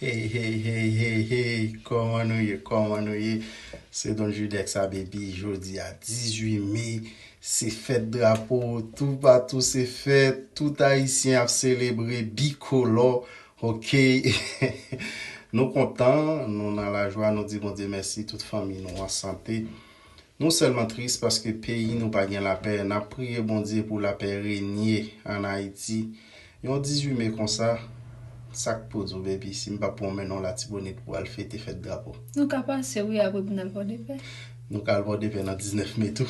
Hey hey hey hey hey kòman nou ye kòman nou ye se Don Judeks a baby jodi a 18 mai se fèt drapo tou patou se fèt tout ayisyen ap selebre bikolò ok nou kontan nou nan lajwa nou di Bondye mèsi tout fanmi nou an sante. Nou sèlman tris paske peyi nou pa gen lapè, nap priye Bondye pou lapè renye an Ayiti. Yon 18 me konsa, sak pou diw baby sim pa pwan menw latibonit pou al fete fèt drapo. Nou ka pase wi apre pou nal pòdepè. Nou ka al pòdepè nan 19 me tou.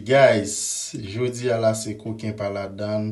Guys, jodi a la se koken pa ladann.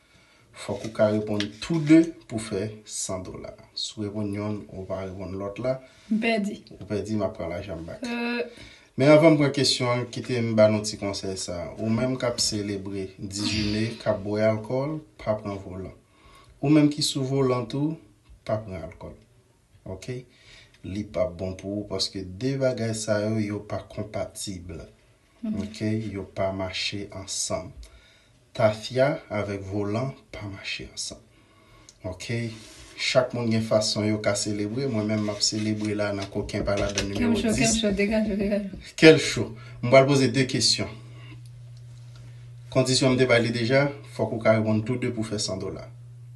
Fòk ou ka reponn tou 2 pou fè 100 dola. Si w reponn yonn ou pa reponn lòt la. M pèdi. Ou pèdi, m ap pran lajan m bak. Men anvan m pran kesyon an, kite m ba nou ti konsèy sa. Ou menm k ap selebre 18 me, k ap bwè alkòl, pa pran volan. Ou menm ki sou volan tou, pa pran alkòl. Ok? Li p ap bon pou ou paske 2 bagay sa yo, yo pa konpatib. Ok yo pa mache ansanm. Tafya avèk volan pa mache ansanm ok chak moun gen fason yo ka selebre mwen menm map selebre la nan koken pa ladan nimewo 10 Kel cho degaj ou degaj ou Kel cho m pral poze 2 kesyon kondisyon m te bay li deja fòk ou ka reponn tou 2 pou fè 100 dola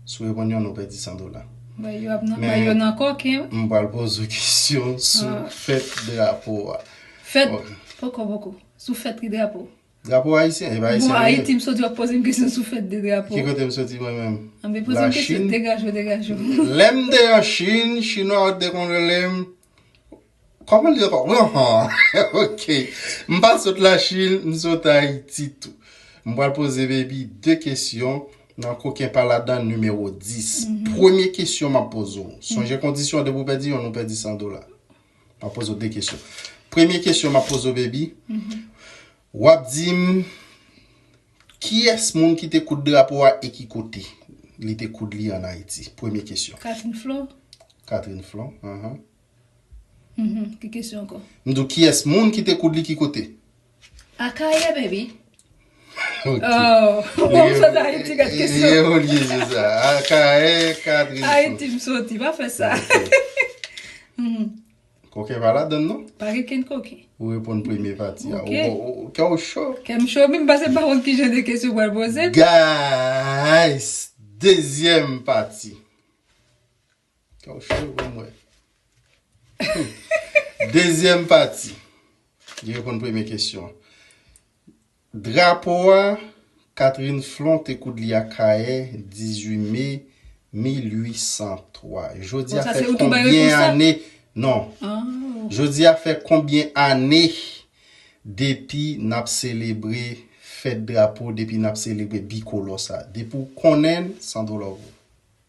si w reponn yonn ou pèdi 100 dola Bay yo nan koken wi M pral poze w kesyon sou fèt drapo a. Fèt poko poko sou fèt ki drapo. Drapo ayisyen epa ayisyen liye. Bon ayiti m soti wap pozem kesyon sou fèt de drapo. Ki kotem soti mwen menm? Anben pozem kesyon degaj ou degaj ou. Lèm te an chine chinwa yo te konn relem Koman li ankò wi anhh ok m pa sot la chine m sot ayiti tou. M pral poze baby 2 kesyon nan koken pa ladan nimewo 10. Premye kesyon map poze w sonje kondisyon depi w pèdi yonn ou pèdi 100 dola. Map poze w 2 kesyon. Premye kesyon map poze w baby, wap di m kiyès moun ki te koud drapo a e ki kote li te koud li an Ayiti? Premye kesyon. Catherine Flon. Catherine Flon, ahan. Ki kesyon ankò? M di w kiyès moun ki te koud li ki kote? Akayè baby Ohh Ou pa m sot Ayiti gad kesyon Ye ou li se sa Akayè Katrin Sot Ayiti m soti pa fè sa Koken pa ladann non Pa gen kenn koken Ou reponn premye pati a Kè w cho Kè m cho wi m pase m pa konn kijan de kesyon ou pral poze m Guys Dezyèm pati. Taw cho pou mwen. Dezyèm pati. Li reponn premye kesyon. Drapo a, Catherine Flon te koud li ak Kaye 18 me 1803. Jodi a fè konbyen ane? Non. Jodi a fè konbyen ane depi nap selebre fèt drapo, depi nap selebre bikolò sa? Depi ou konnen, san do love ou.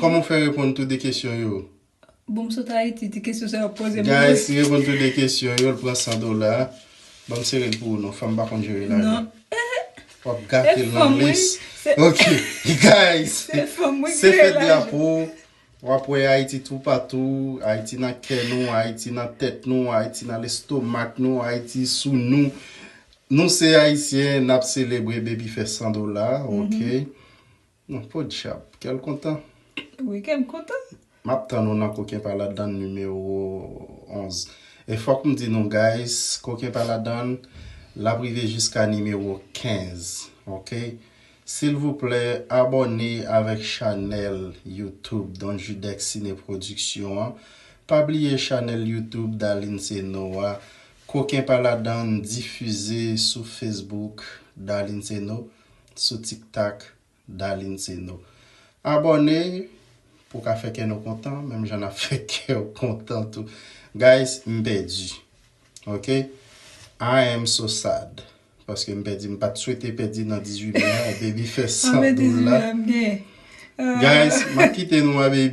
Koman ou fè reponn tou 2 kesyon yo? Bon m sot Ayiti ti kesyon sa yo ap poze m. Guys si reponn tou 2 kesyon yo l pran 100 dola. Banm sere l pou ou non fanm pa konn jere lajan. Wap gate l nan lis. Ok guys se fèt drapo wap wè Ayiti tou patou Ayiti nan kè nou Ayiti nan tèt nou Ayiti nan lestomak nou Ayiti sou nou Nou se Ayisyen nap selebre baby fè 100 dola ok. Non podyab kèl kontan. Wi kèm kontan. Map tann ou nan koken pa ladann nimewo 11 e fòk m di nou guys koken pa ladann lap rive jiska nimewo 15 ok silvouplè abòne avèk chanèl YouTube Don Judec Cine Production an pa bliye chanèl YouTube Darline Ceno a koken pa ladann difize sou Facebook Darline Ceno. sou tiktak Darline Ceno. Abòne pou w ka fè kè nou kontan menm jan nap fè kè w kontan tou. Guys m pèdi ok I am so sad paske m pèdi m pat swete pèdi nan 18 me a baby fè san dola guys map kite nou a baby.